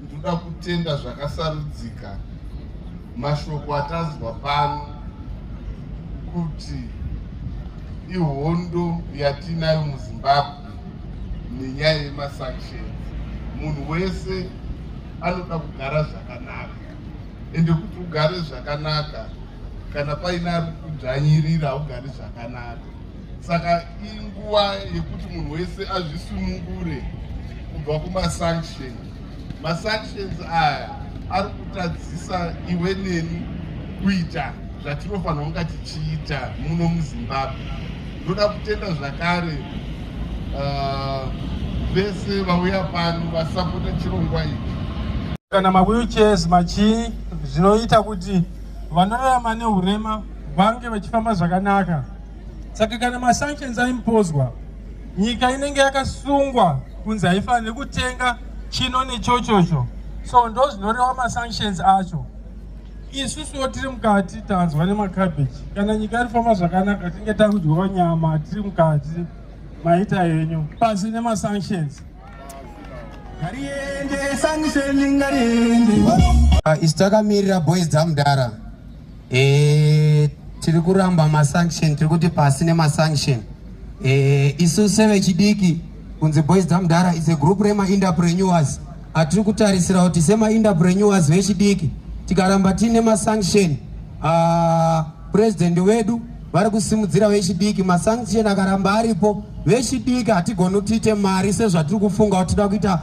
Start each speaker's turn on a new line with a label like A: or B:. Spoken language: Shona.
A: Ndoda kutenda zvakasarudzika mashoko atanzwa pano kuti ihondo yatinayo muzimbabwe nenyaya yemasanctions munhu wese anoda kugara zvakanaka ende kuti ugare zvakanaka kana paine ari kudzvanyirira haugari zvakanaka saka inguva yekuti munhu wese azvisunungure kubva kumasanction masanctions aya ari kutadzisa iwe neni kuita zvatinofanira kunga tichiita muno muzimbabwe ndoda kutenda zvakare uh, vese uh, vauya pano vasapota chirongwa ichi kana
B: mawheelchairs machii zvinoita kuti vanorarama neurema vange vachifamba zvakanaka saka kana masanctions aimpozwa nyika inenge yakasungwa kunzi haifaniri kutenga chino nechochocho so ndo zvinoreva masanctions acho isusuwo tiri mukati tanzwa nemakabeji kana nyika yarifamba zvakanaka tinge takudyiwa nyama tiri mukati maita henyu pasi nemasanctions ngariende sanction
C: ngariende ah, isi takamirira boys dzamudara Eh, tiri kuramba masanction tiri kuti pasi nemasanction eh, isu sevechidiki kunzi boys dzamdara is a group remainterpreneurs atiri kutarisira kuti semainterpreneurs vechidiki tikaramba tiine masanction uh, ah, president wedu vari kusimudzira vechidiki masanction akaramba aripo vechidiki hatigoni kutiite mari sezvatiri kufunga kuti tida kuita